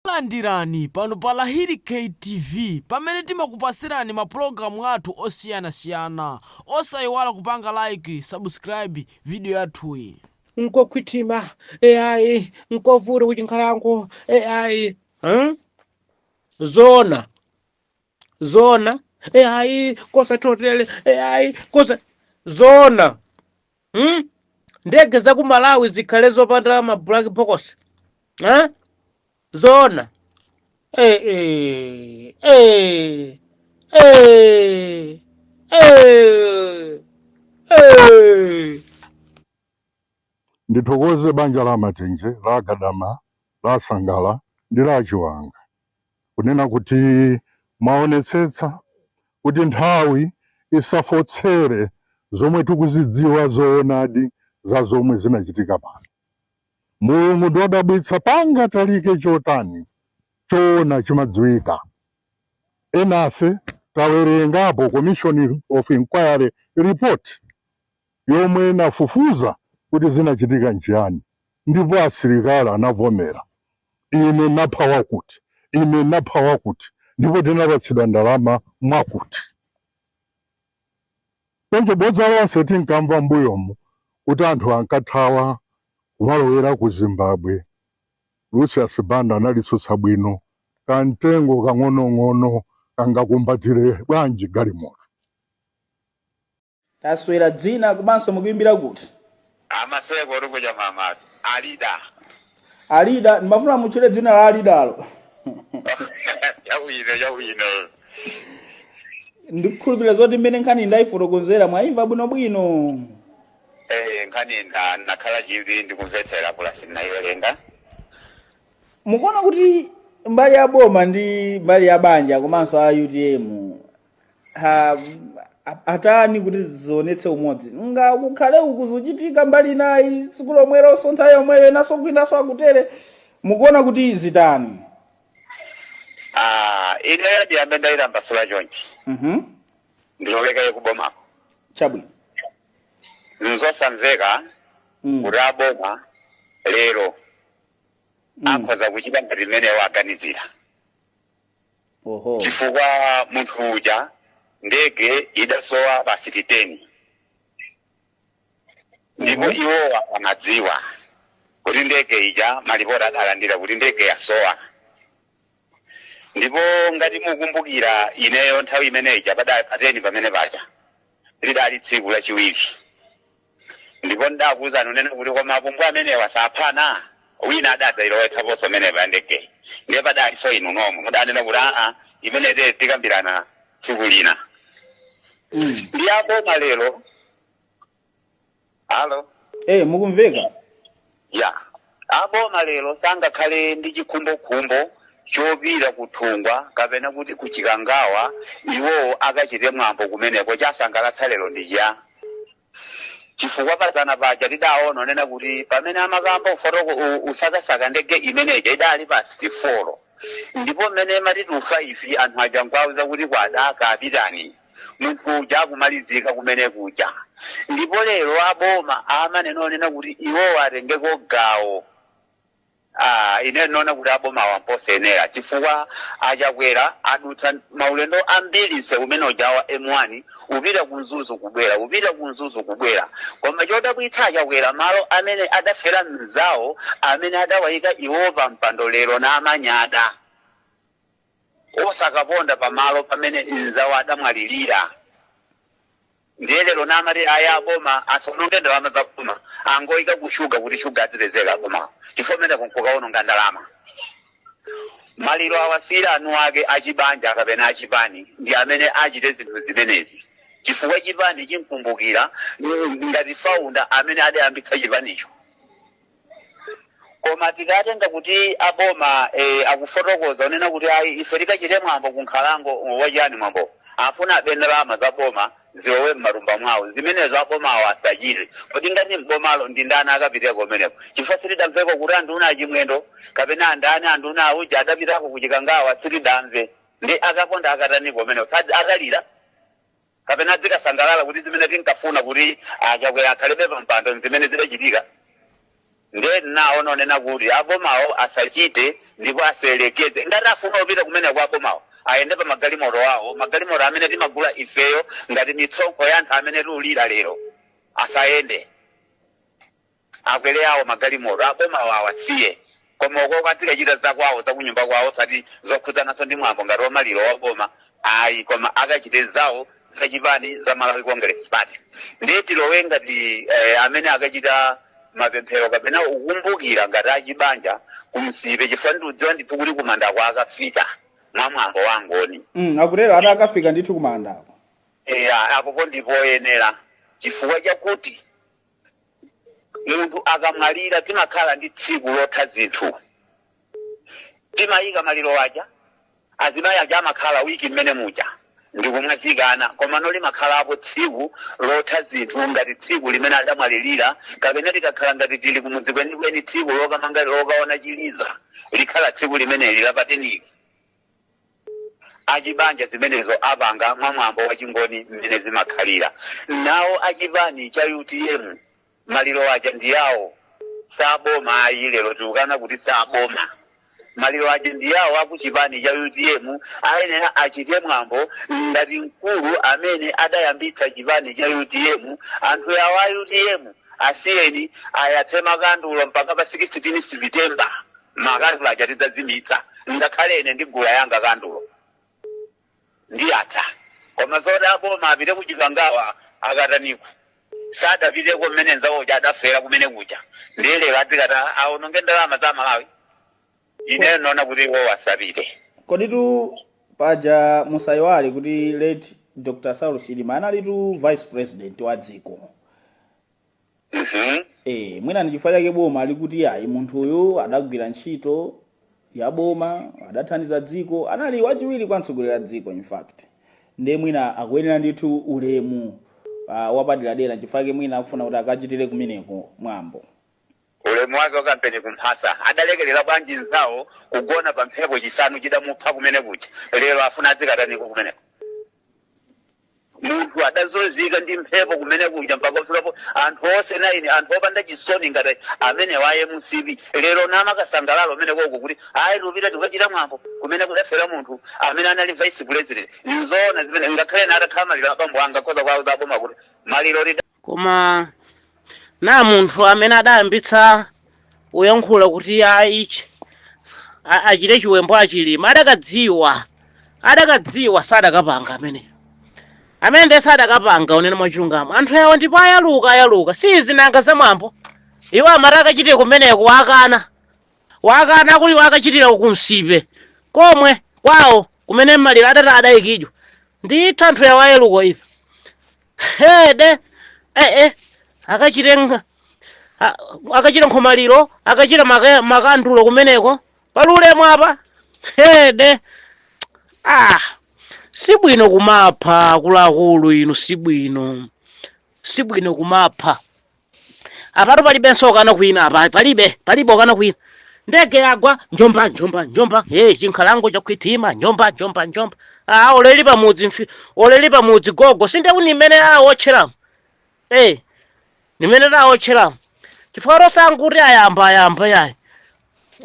Takulandirani pano pa Lahiri K TV pamene timakupatsirani ma program athu osiyana siyana osayiwala kupanga like, subscribe video yathuyi. nkokhwithima ai nkovuta kuchinkhalango ai hmm? zoona zoona ai kosathotele ai kosa zoona hmm? ndege za ku Malawi zikhale zopanda ma black box eh? zoona eh, eh, eh, eh, eh, eh. ndithokoze banja la Matenje la Gadama la Sangala ndi la Chiwanga kunena kuti mwaonetsetsa kuti nthawi isafotsere zomwe tikuzidziwa zoonadi za zomwe zinachitika pano. Mulungu ndi odabwitsa pangatalike chotani choona chimadziwika. Enafe tawerengapo commission of inquiry report. yomwe inafufuza kuti zinachitika nchiyani, ndipo asilikali anavomera. Ine ndinapha wakuti, ine ndinapha wakuti, ndipo tinapatsidwa ndalama mwakuti. Choncho bodza lonse tinkamva m'mbuyomu kuti anthu ankathawa kumalowera ku Zimbabwe, Lucius Banda analitsutsa bwino, kamtengo kang'onong'ono kangakumbatire bwanji galimoto? tatchulani dzina komanso mukuimbira kuti amaseko oti kucha mamatu alida alida ndimafuna mutchule dzina la alidalo chabwino chabwino ndikukhulupirira zoti mmene nkhani ndayifotokozera mwayimva bwinobwino Eh, nkhani ndanakhala chivi ndikumvetsera pulasi ndinayiwerenga mukuona kuti mbali ya boma ndi mbali ya banja komanso a utm ha, a- atani kuti zionetse umodzi ngakhale uku zuchitika mbali inayi tsiku lomwelo nso nthawi yomweyo inaso kwinaso akutere mukuona kuti zitani Ah, ineyo ndiyambe ndayitambasula chonchi Mhm. ndilowe kaye kubomako chabwino nzosamveka Mm. kuti aboma lero Mm. akhoza kuchita ngati mmene aganizira oho chifukwa munthu uja ndege idasowa pa deti 10 ndipo Mhm. iwowa amadziwa kuti ndege ija malipoti adalandira kuti ndege yasowa ndipo ngati mukumbukira ineyo nthawi imene ija pa- pa 10 pamene paja lidali tsiku lachiwiri ndipo ndidakuwuzani onena kuti koma apumbwa amenewa saphana wina adadzayilowetsaponso pamene pandegeyi ndiye padalinso inu nomwe mudanena kuti aa imene te tikambirana tsiku lina Mm. ndi aboma lero alo Eh, mukumveka? ya aboma lero sangakhale ndi chikhumbokhumbo chopita kunthungwa kapena kuti kuchikangawa iwowo akachite mwambo kumeneko chasangalatsa lero ndi cha chifukwa padzana paja tidaona onena kuti pamene amakamba ufotoko u- usakasaka ndege imeneja idali pa 64 ndipo mmene matitufa ifi anthu aja nkuwauza kuti kwada kapitani munthu uja akumalizika kumene kuja ndipo lero aboma amanena onena kuti iwowo atengeko gawo Ah, ine ndinaona kuti aboma awa mposayenera chifukwa achakwera adutsa maulendo ambiri mseu umene uja wa m1 upita kumzuzu kubwera upita kumzuzu kubwera koma chodabwitsa achakwera malo amene adafera mzawo amene adawayika iwo pa mpando lero namanyada osakaponda pamalo pamene mzawo adamwalirira ndiye lero namati ayi aboma asaononge ndalama za boma angoyika ku shuga kuti shuga azipezeka boma chifukwa kumeneko nkukaononga ndalama maliro awasiyire eni ake achibanja kapena achipani ndi amene achite zinthu zimenezi chifukwa chipani chimkumbukira mm, ngati faunda amene adayambitsa chipanicho koma tikatenga kuti aboma eh, akufotokoza onena kuti ayi ife tikachite mwambo kunkhalango wachani mwambo afuna abe ndalama za boma zilowe m'matumba mwawo zimenezo abomawo asachite kodi ngati m'bomalo ndi ndani akapiteko kumeneko chifukwa sitidamveko kuti anduna achimwendo kapena andani anduna auja adapitako kuchikangawa sitidamve ndi akaponda akatani kumeneko Sad- akalira kapena adzikasangalala kuti zimene tinkafuna kuti achakwera akhalebe pa mpando nzimene zidachitika nde naona onena kuti abomawo asachite ndipo asayerekeze ngati afuna kupita kumeneko abomawo ayende pa magalimoto awo magalimoto amene timagula ifeyo ngati mitsonkho ya anthu amene tiulira lero asayende akwere awo magalimoto abomawo awasiye koma ukoko azikachita zakwawo zakunyumba kwawo osati zokhudzananso ndi mwambo ngati wamaliro waboma ayi koma akachite zawo zachipani za malawi congress party ndiye tilowe ngati eh, amene akachita mapemphero kapena kukumbukira ngati achibanja kunsipe chifukwa ndiudziwa ndithu kuti kumandako akafika mwa mwambo wangoni mm, akutero ati akafika ndithu kumandako eya apopo ndipoyenera chifukwa chakuti munthu akamwalira timakhala ndi tsiku lotha zinthu timayika maliro aja azimayi aja amakhala wiki mmene muja ndikumwazikana komano limakhalapo tsiku lotha zinthu ngati tsiku limene adamwalirira kapena tikakhala ngati tili kumudzi kwenikweni tsiku lokamanga lokaona chiliza likhala tsiku limeneli lapadera achibanja zimenezo apanga mwa mwambo wa chingoni mmene zimakhalira nawo achipani cha utm maliro aja ndi yawo saboma ayi lero tikukana kuti saboma maliro aja ndi yawo akuchipani cha utm ayenera achite mwambo ngati mkulu amene adayambitsa chipani cha utm anthu yawo a utm asiyeni ayatse makandulo mpaka pa 16 September makandulo aja tidzazimitsa ngakhale ine ndigula yanga kandulo ndiyatsa koma zoti aboma apite ku Chikangawa akataniko sadapiteko mmene nzawo uja adafera kumene kuja ndiye lero adzikatani aononge ndalama za Malawi ineyo ndaona kuti iwo asapite komatu paja musayiwale kuti late Dr Saulos Chilima analitu vice president wa dziko Mhm. e, mwina ndi chifukwa chake boma likuti ayi munthu uyu adagwira ntchito ya boma adathandiza dziko anali wachiwiri kwa mtsogoleri wa dziko in fact ndiye mwina akuyenera ndithu ulemu uh, wapaderadera nchifukwa chake mwina akufuna kuti akachitire kumeneko mwambo Ulemu wake wa kampeni kumphasa adalekerera bwanji nzawo kugona pa mphepo chisanu chidamupha kumene kuja lero afuna adzikataniko kumeneko munthu adazunzika ndi mphepo kumene kuja mpaka kuferapo anthu onse naini anthu opanda chisoni ngati amenewa a MCP lero nkumakasangalala kumeneko kuti ayi tipita tikachite mwambo kumene kudafera munthu amene anali vice president nzoona zimene ngakhale ena atakhala maliro abambo anga koza kwawo zaboma kuti maliro lida komano munthu amene adayambitsa kuyankhula kuti ayi achi achite chiwembo a Chilima adakadziwa adakadziwa sadakapanga amene amene ndiye sadakapanga kunena mwachilungamo anthu awo ndipo ayaluka ayaluka si zinanga za mwambo iwo amati akachitire kumeneko akana akana kuti akachitire ku Nsipe komwe kwawo kumene maliro adati adayikidwa ndithu anthu awo ayaluka ife hede ee eh, akachite nga- a- akachite nkhomaliro akachite maka- makandulo kumeneko pali ulemu apa hede ah si bwino kumapha akuluakulu inu si bwino si bwino kumapha apatu palibenso okana kwina apa palibe palibe okana kwina ndege yagwa njomba njomba njomba hey, chinkhalango chaguwitima njomba njomba njomba ah, oleli pamudzi mfi- oleli pamudzi gogo sindewu nimmene awotcheramo hey, nimmene tawotcheramo chifukwa tosanguti ayamba ayamba yayi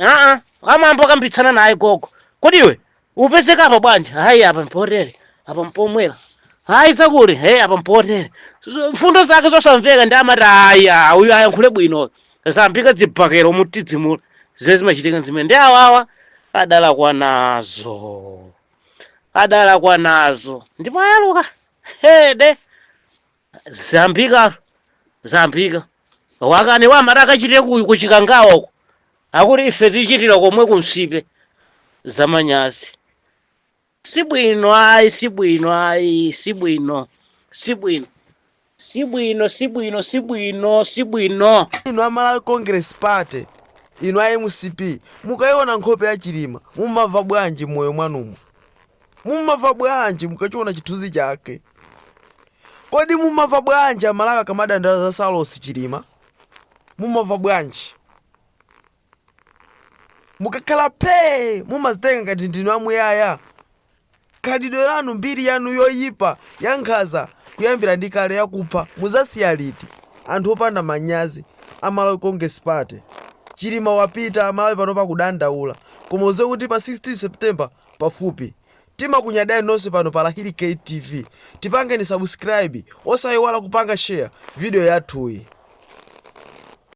aa amambo akambitsana naye gogo kodi iwe upezeka apa bwanji hayi apa mpotere apa mpomwera hayi zakuti he apa mpotere Z- mfundo zake zosamveka ndi amati ayi ah, uyu ayankhule bwino zayambika zibakera kutidzimula zimene zimachitika zimene ndi awawa adalakwa nazo adalakwa nazo ndipo ayaluka hede zayambikatu zayambika akani amati akachitire ku- kuchikangawa uko akuti ife tichitire komwe kumsipe zamanyazi sibwino ayi sibwino ayi sibwino sibwino sibwino sibwino sibwino sibwino inu a malawi congress party inu a mcp mukayiona nkhope ya chilima mumamva bwanji m'moyo mwanumo Mumamva bwanji mukachiona chithunzi chake? Kodi mumamva bwanji Amalawi akamadandaula za Saulos Chilima? Mumamva bwanji? Mukakhala phee mumazitenga ngati ndinu amuyaya. Khalidwe lanu, mbiri yanu yoyipa, yankhanza, kuyambira ndi kale yakupha mudzasiya liti? Anthu opanda manyazi, a Malawi Congress Party. Chilima wapita, Amalawi panopa akudandaula. Koma udziwe kuti pa 16 September pafupi timakunyadani nonse pano pa lahiri gate tv tipangeni subscribe osaiwala kupanga share video yathuyi.